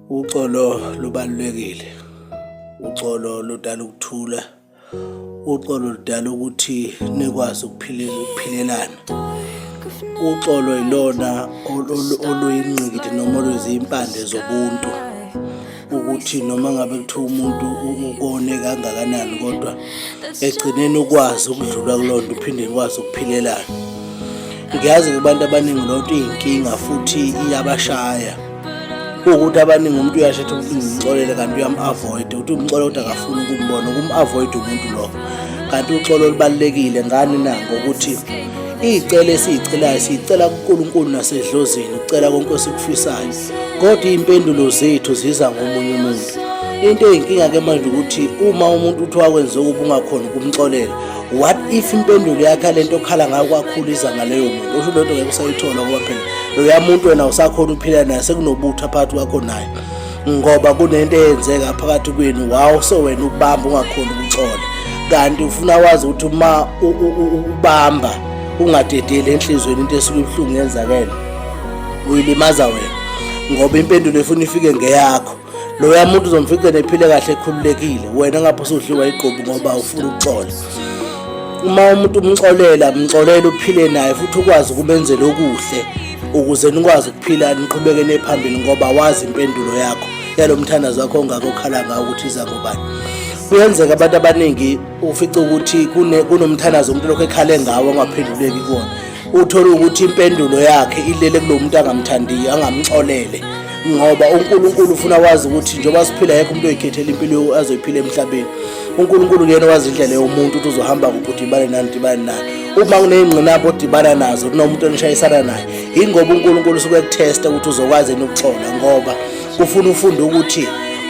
Uxolo lubalulekile. Uxolo ludala ukuthula. Uxolo ludala ukuthi nikwazi ukuphilela ukuphilela. Uxolo ilona oluyingqikithi noma oluyizimpande zobuntu. ukuthi noma ngabe kuthiwa umuntu ukone kangakanani kodwa egcineni ukwazi ukudlula kuloo nto uphinde ukwazi ukuphilelela ngiyazi kubantu abaningi loo nto iyinkinga futhi iyabashaya ukuthi abaningi umuntu uyashetha ukuthi ngimxolele kanti uyam-avoid ukuthi umxole kodwa akafuni ukumbona ukum-avoid umuntu lowo kanti uxolo olubalulekile ngani na ngokuthi iy'cela esiy'celayo siyicela kunkulunkulu nasedlozini ukucela konke esikufisayo kodwa iy'mpendulo zethu ziza ngomunye umuntu into eyinkinga ke manje ukuthi uma umuntu uthi wakwenza okubi ungakhona ukumxolela what if impendulo yakhe lento okhala ngayo kwakhulisa ngaleyo muntu usho lento ngeke usayithola ngoba phela loya muntu wena usakhona ukuphila naye sekunobutha phakathi kwakho naye ngoba kunento eyenzeka phakathi kwenu wawo so wena ukubamba ungakhona ukuxola kanti ufuna wazi ukuthi uma ubamba ungadedeli enhlizweni into esuke ibuhlungu yenzakele uyilimaza wena ngoba impendulo efuna ifike ngeyakho loya muntu uzomfica nephile kahle ekhululekile wena ngapho usudliwa igqubu ngoba ufuna ukuxola uma umuntu umxolela mxolela uphile naye futhi ukwazi ukumenzela okuhle ukuze nikwazi ukuphila niqhubekele phambili ngoba wazi impendulo yakho yalo mthandazo wakho ongakokhala ngawo ukuthi iza ngobani kuyenzeka abantu abaningi ufica ukuthi kunomthandazo umuntu lokho ekhale ngawo angaphenduleki kuwona uthole ukuthi impendulo yakhe ilele kulo muntu angamthandiyo angamxolele ngoba uNkulunkulu ufuna wazi ukuthi njengoba siphila yekho umuntu oyikhethela impilo azoyiphila emhlabeni uNkulunkulu kuyena wazi indlela yomuntu ukuthi uzohamba kuphi udibane nani udibane nani uma kuneyingqinamba odibana nazo kunomuntu onishayisana naye yingoba uNkulunkulu usuke kuthesta ukuthi uzokwazi yini ukuxola ngoba kufuna ufunde ukuthi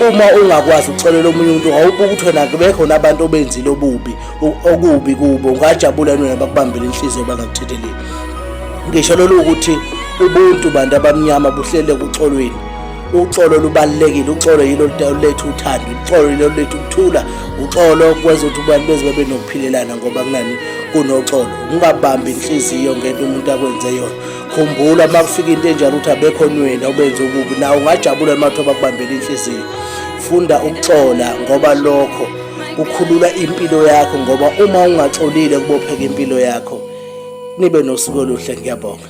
uma ungakwazi ukuxolela omunye umuntu awubuke ukuthi wena kubekho nabantu obenzile obubi okubi kubo ungajabula nina bakubambele inhliziyo bangakuthetheleli ngisho lolu ukuthi ubuntu bantu abamnyama buhlele kuxolweni uxolo lubalulekile uxolo yilo luletha uthando uxolo yilo luletha ukuthula uxolo kwenza ukuthi abantu beze babe nokuphikelana ngoba kunani kunoxolo ungabambi inhliziyo ngento umuntu akwenze yona khumbula uma kufika into enjalo ukuthi abekhonweni obenze ububi nawe ungajabula uma kuthiwa bakubambela inhliziyo funda ukuxola ngoba lokho kukhulula impilo yakho ngoba uma ungaxolile kubopheka impilo yakho nibe nosuku oluhle ngiyabonga